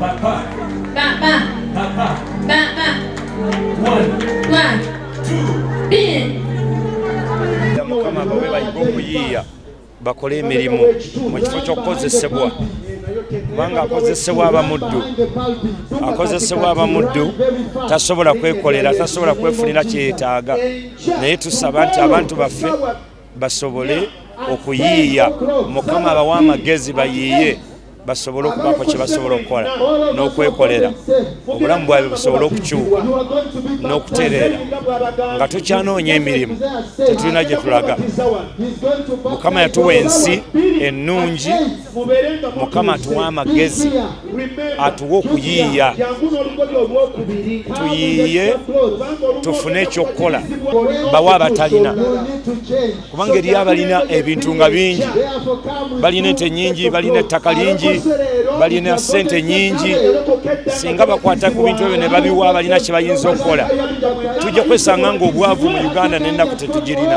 Papa. Papa. Papa. Papa. One. One. Two. Three. Mukama bawe bayiga okuyiiya bakole emirimu mu kifo ky'okukozesebwa kubanga akozesebwa abamuddu akozesebwa abamuddu tasobola kwekolera tasobola kwefunira kyeyetaaga naye tusaba nti abantu baffe basobole okuyiiya mukama abawa amagezi bayiiye basobole okubaako kye basobola okukola n'okwekolera obulamu bwabwe busobole okukyuka n'okutereera nga tukyanoonya emirimu tetulina gye tulaga mukama yatuwa ensi ennungi mukama atuwe amagezi atuwe okuyiiya tuyiiye tufune ekyokukola bawe abatalina kubanga eriyo abalina ebintu nga bingi balina ente nyingi balina ettaka lingi balina sente nyingi singa bakwata ku bintu ebyo ne babiwa abalina kye bayinza okukola tujja kwesanga ngaobwavu mu uganda nenaku tetugirina